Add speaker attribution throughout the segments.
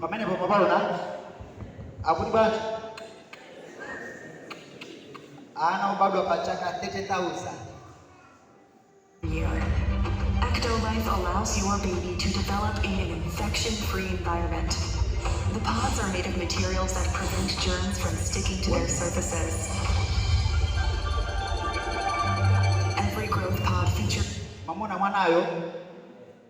Speaker 1: Pamenepo mwapaona akuti bwanji? Ana obadwa pa chaka 30,000. year. Ectolife allows your baby to develop in an infection-free environment. The pods are made of materials that prevent germs from sticking to their surfaces. Every growth pod features Mwamuona mwanayo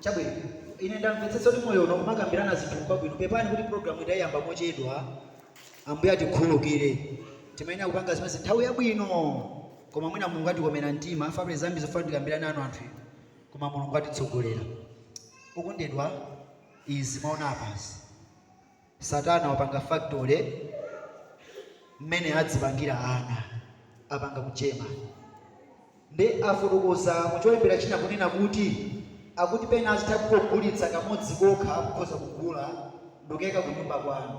Speaker 1: chabwino ine ndamvetsetsa kuti moyo uno umakambirana zinthuku kwabwino pepani kuti programu idayamba mochedwa ambuye atikhululukire timayenera kupanga zimenezi nthawi yabwino koma mwina mulungu atikomera mtima panabe zambiri zofuna tikambirana ana anthu inu koma mulungu atitsogolera okondedwa izi mwaona apazi satana wapanga factory mmene adzipangiramo ana apanga ku german ndiye afotokoza mucholembera china kunena kuti akuti pena azitha kugulitsa kamodzi kokha mukhoza kugula ndikuyika kunyumba kwanu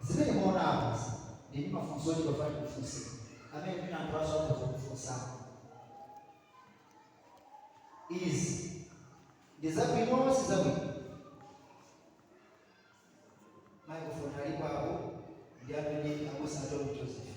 Speaker 1: Zimene mwaona apazi ndili ndi mafunso ochepa 5 ofunsa amene mwina anthu anzanu akhoza kukufunsani. Izi ndi zabwino sizabwino? Microphone alipo apo ndi amene abusa a Tommy Joseph.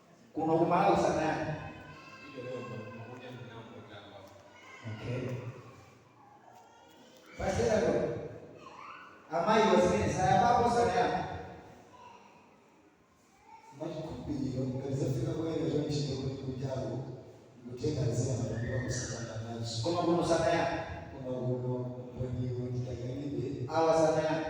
Speaker 1: kuno ku Malawi sanayambe okay pastor amayi wazimene sayambapo sanayambe mwachikhulupiriro ngati zafika poyera chonchito kuti kunjaku kutenga zina matambira kusakana nazo koma kuno sanayambe koma kuno mboniwo nditakanidwe awa sanayambe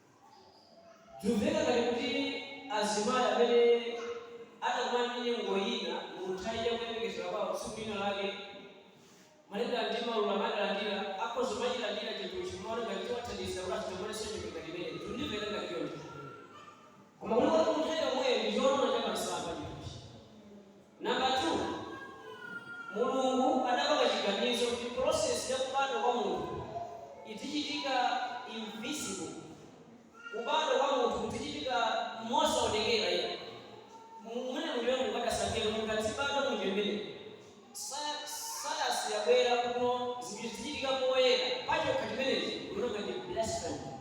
Speaker 1: Zimveka ngati kuti azimayi amene anakumana ndi nyengo ina munthawi ya kuyembekezera kwawo tsiku lina lake malingana ndi maululo amene adalandira akhoza kumachilandira chinthuchi kumaona ngati chiwathandiza kuti asachokerenso nyengo ngati imeneyi. Zikundimveka ngati choncho koma kulikoti munthawi yomweyo ndi chooneka cha msampha chinthuchi. Number 2, Mulungu adapanga chiganizo kuti process ya kubadwa kwa munthu idzichitika invisible, kubadwa kwa munthu kudzichitika mosaonekera iyayi. Mumenemu ndiye Mulungu adasankhira kuti munthu adzibadwa munjira imeneyi. Sayansi yabwera kuno zinthu zidzichitika poyera pachokha chimenechi ndikuti ndi blasphemy.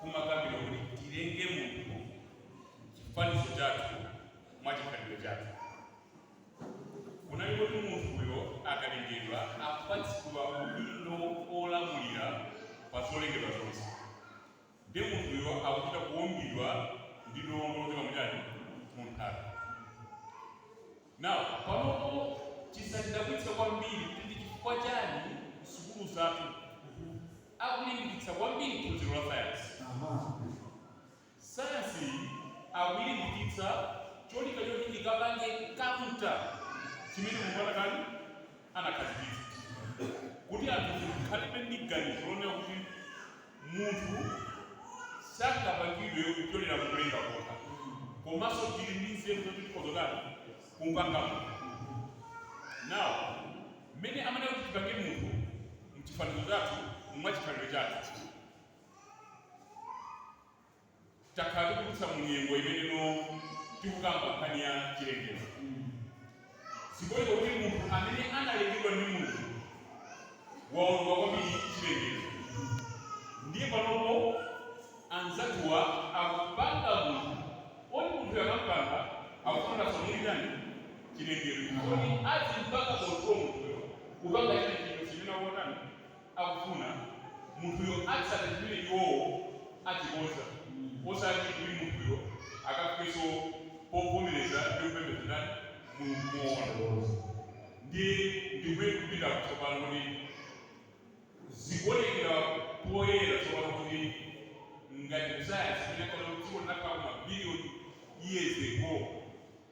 Speaker 1: kumakambidwa kuti tilenge munthu chifanizo chathu mwa chikhalidwe chathu. Kunali kuti munthuyo akalengedwa apatsidwa udindo olamulira pa zolengedwa zonse, ndi munthuyo akuchita kuumbidwa ndi dongo lochokera muchani? Munthaka. Now, panopo chisatidabwitse kwambiri kuti ndi chifukwa chani kusukulu zathu akulimbikitsa kwambiri phunziro la sayansi. Sayansiyi akuilimbikitsa cholinga choti ikapange counter chimene Mulungu anatani anakhazikitsa kuti anthu tikhalebe ndi ganizo lonena kuti Munthu sangapangidwe kupyolera mukulenga kokha, komanso tili ndi nzeru zoti tikhoza kutani? Kumupanga munthu. Now, mmene amanena kuti tipange munthu mchifanizo chathu, mwachikhalidwe chathu. Takhala tikudutsa mu nyengo imeneyino tikukamba nkhani ya chilengedwe. Zikuoneka kuti munthu amene analengedwa ndi Mulungu waononga kwambiri chilengedwe. Ndiye panopo anzathuwa akupanga munthu oti munthuyo akampanga akufuna kuti asaononge chani? Chilengedwe. Chifukwa choti adzimpanga control munthuyo kupanga china chilichonse chimene akutani? akufuna, munthuyo atsate chimene iwowo achikonza, osati kuti munthuyo akafikenso povomereza ndi kupembedza ndani? Mulungu moona. Ndiye ndi kumene tikupitako tsopano, kuti zikuonekera poyera tsopano kuti ngati kusayansi, imene ankaona kuti dziko linakhalako mabiliyoni years ago,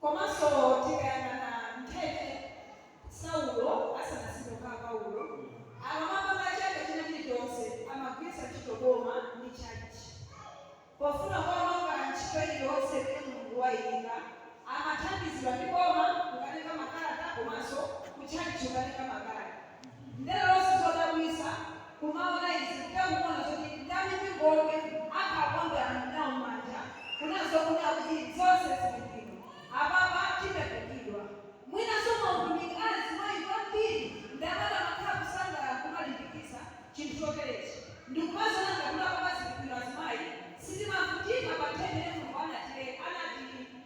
Speaker 1: Komanso tikayang'ana nthawi imene Saulo asanasinthe kukhala Paulo, amapanga chaka china chilichonse amagwiritsa ntchito boma ndi tchalitchi pofuna kuononga ntchito iliyonse imene Mulungu waiyika. Amathandizidwa ndi boma kukatenga makalata komanso kutchalitchi kukatenga makalata. Ndenso chodabwisa kumaona izi kuta muona zoti ndani mipingo akhala kukambilana nao manja kuna zokuti akuti zonse zili bwino apapa tikupindula mwinanso mautumiki a azimai kwambiri ndi amati amakhala kusangalala kumalimbikitsa chinthu chotelechi ndikumaziona ngati kuti apapa zili bwino azimai sitimakumbukira pa nthawi imene Mulungu anatilenga anati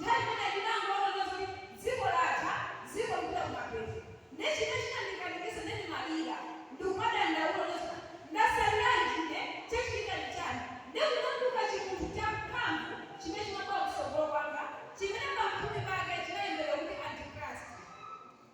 Speaker 1: Nthawi imeneyo ndinangoona za zoti dziko latha, dziko likupita kumapeto. Nde chimene chinandikanikisa nde ndimalira ndikumadandaula kunena zoti ndasaliranji ine, chachitika ndi chani? Nde kunatuluka chimunthu cha mphamvu chimene chimabwera kutsogolo kwanga chimene pamphumi pake chinalembedwa kuti Antichrist.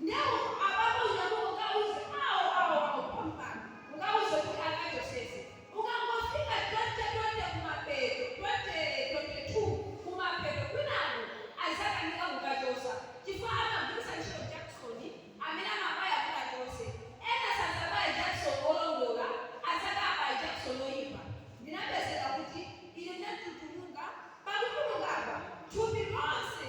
Speaker 1: Ndewu abambo uyu akuti ukawuze awo awo awo pompano ukawuze kuti akachosese ukangofika 20 20 kumapeto 20 22 kumapeto kwinaku azakanika kukachosa chifukwa amagwirisa ntchito jakisoni amene amabaya kuti achose ena sadzabaye jakisoni olondola adzati abaye jakisoni oyipa ndinapezeka kuti ine ndinatutumuka pang'ono ngagwa thupi lonse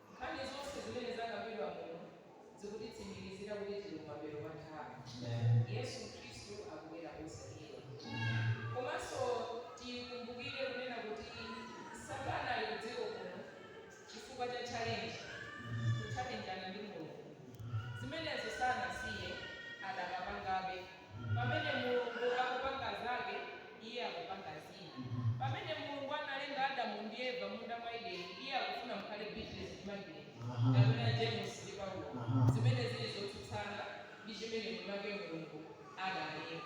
Speaker 1: Nkhani zonse zimene zakambidwa muno zikutitsimikizira kuti tili kumapeto kwa nthawi. Yesu Khristu akubwera posachedwa. Komanso tikumbukire kunena kuti Satana ali kudziko kuno chifukwa cha challenge, kutchalenjana ndi Mulungu. Zimenezo sanasiye, adakapangabe. Pamene Mulungu akupanga Zake, Iye akupanga Zina. Pamene Mulungu analenga Adamu ndi Eva m'munda mwa Edeni, Iye akufuna mukhale Agnes ndi Margaret, kapena James ndi Paulo, zimene ziri zotsutsana ndi chimene mwinamwake Mulungu analenga.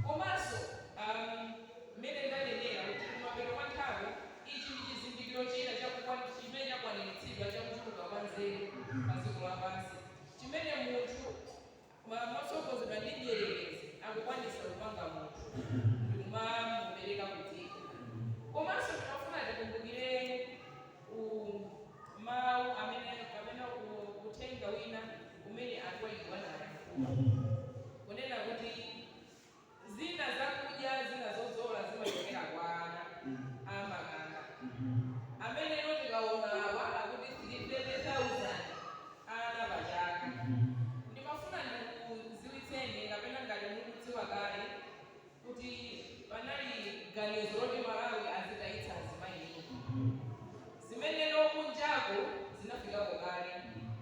Speaker 1: Komanso, um, mmene ndanenera, kuti kumapeto kwa nthawi, ichi ndi chizindikiro china cha kukwan, chimene chakwaniritsidwa, cha kuchuluka kwa nzeru pa dziko lapansi, chimene munthu Koma motsogozedwa ndi mdierekezi akukwanitsa kupanga munthu ndikumamupereka ku dziko. Komanso ndimafuna tikumbukire u mau amene kapena u uthenga wina umene anthu oyikidwa anayankhula. Kunena kuti. Zina zakudya zina zodzola zimachokera kwa ana a makanda amenewo tikaona awa akuti 300,000 ana pa chaka. Ndimafuna ndikudziwitseni kapena ngati mukudziwa kale kuti panali ganizo loti Malawi azitayitsa azimayi mimba. Zimenezo kunjaku zinafikako kale.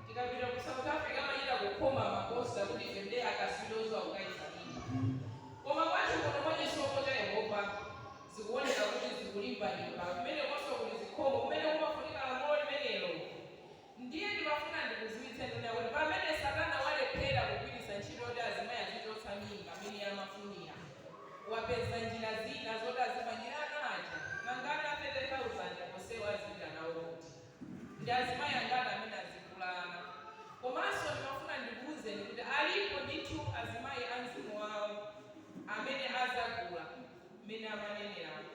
Speaker 1: Tikapita ku south africa amachita kukhoma ma poster kuti ife nde akaswili oziwa kutaisa mimba. Koma kwathu kuno mwa chisomo cha yehova zikuoneka kuti zikulimbalimba. Kumenekonso kuli zikomo kumene kumafunika lamulo limenelo. Ndiye ndimafuna ndikudziwitseni kuti pamene satana walephera kugwiritsa njira yoti azimayi azichotsa mimba mmene amafunira, wapeza njira zina zoti azipangira ana aja. Nanga ana 30,000 onsewo azipita nawo kuti? Ndi azimayi angati amene azigula ana? Komanso ndimafuna ndikuuzeni kuti kuti alipo ndithu azimayi a mzimu wawo amene azagula mmene amaneneramu.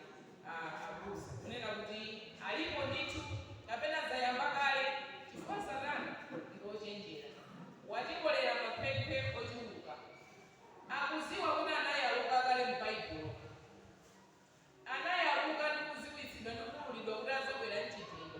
Speaker 1: a abusa kunena kuti alipo ndithu kapena zayamba kale chifukwa satana ndi ochenjera watikolera makhwekhwe ochuluka akuziwa kuti anayaluka kale mu baibulo anayaluka ndi kuziwitsidwa ndi kuululidwa kuti azabwera m'njira iyo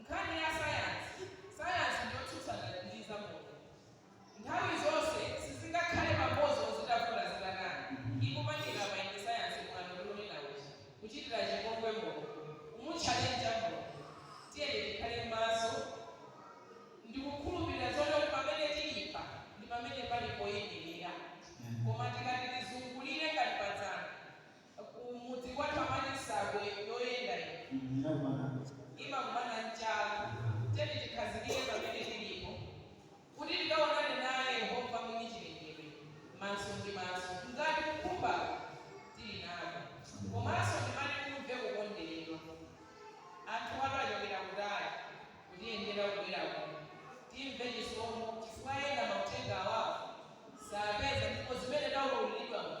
Speaker 1: Nkhani ya sayansi, sayansi ndi yotsutsana ndi zamoyo. Nthawi zonse sizingakhale pamodzi ozitafuna zitakana, ndi kupangira maindi, sayansi mwano ndikunena kuti, kuchitira chipongwe Mulungu, kumutchalenja Mulungu. Tiyeni tikhale maso ndi kukhulupirira zoti pamene tili pa ndi pamene pali poimirira. Koma tikati tizungulire ngati pa dzana. Ku mudzi kwathu amati nsabwe yoyenda yenda imakumana ndi chala. Tiyeni tikhazikike pamene tilipo kuti tikaonane naye Yehova, Mwini chilengedwe, maso ndi maso. Ngati kukhumbaku tili nako komanso ndimati timve kukonderedwa, anthu achokera kutali kutiyendera kubwera kuno, timve chisomo chifukwa ena mauthenga awawa sapeza ndipo zimene taululiridwa muno,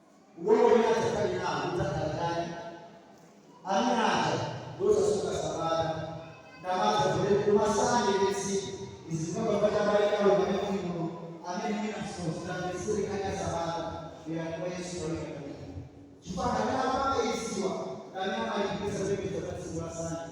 Speaker 1: Umoyo umene adzakhale nawo udzakhala chani? Amuna aja ndi osasunga Sabata, amapembedza tsiku la Sande. Izi zimapangwa ndi abale awo pamene muli muno, amene mwina simukutamvetsere nkhani ya Sabata, bwerani kwa Yesu nthawi idakalipo. Chifukwa anthu amene amapanga iziwa ndi amene amalimbikitsa zopembedza tsiku la Sande.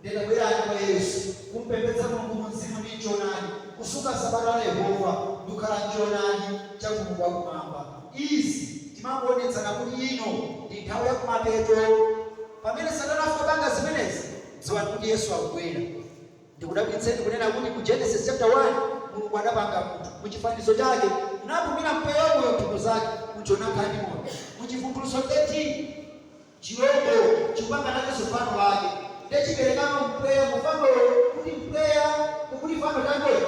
Speaker 1: Ndiyeno bwerani kwa Yesu, kum'pembedza Mulungu mumzimu ndi m'choonadi, kusunga Sabata la Yehova, ndi kukhala m'choonadi cha Mulungu wa Kumwamba. Izi zimangoonetsa kuti ino ndi nthawi ya kumapeto. Pamene Satana afika popanga zimenezi, dziwani kuti Yesu akubwera. Ndikudabwitseni kunena kuti mu Genesis chapter 1, Mulungu adapanga munthu mu chifanizo chake, nauzira mpweya wa moyo m'mphuno zake, munthuyo nakhala ndi moyo. Mu Chivumbulutso 13. chilombo chikupanga nachonso fano lake, ndiye chiperekamo mpweya mu fanolo kuti mpweya, kuti fanolo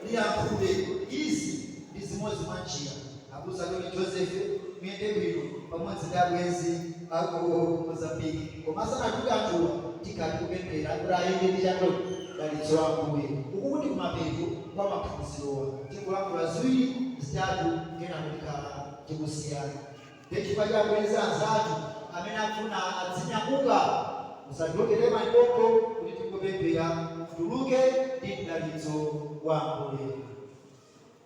Speaker 1: liyankhule. Izi ndi chimodzimodzi. Abusa Tony Joseph, muyende bwino pamodzi ndi abwenzi a ku Mozambique. Koma asanatuluke anthuwa, tikhala tikupemphera kuti ayende ndi mdalitso wa Ambuye. Ukuku ndi kumapeto kwa maphunzirowa. Tingolankhula ziwiri, zitatu kenako tikhala tikusiyana. Ndiye chifukwa cha abwenzi anzathu amene akufuna adzinyamuka, musatuluke msanga pompo kuti tingopemphera mutuluke ndi mdalitso wa Ambuye.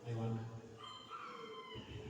Speaker 1: Mayi wanga, pemphera.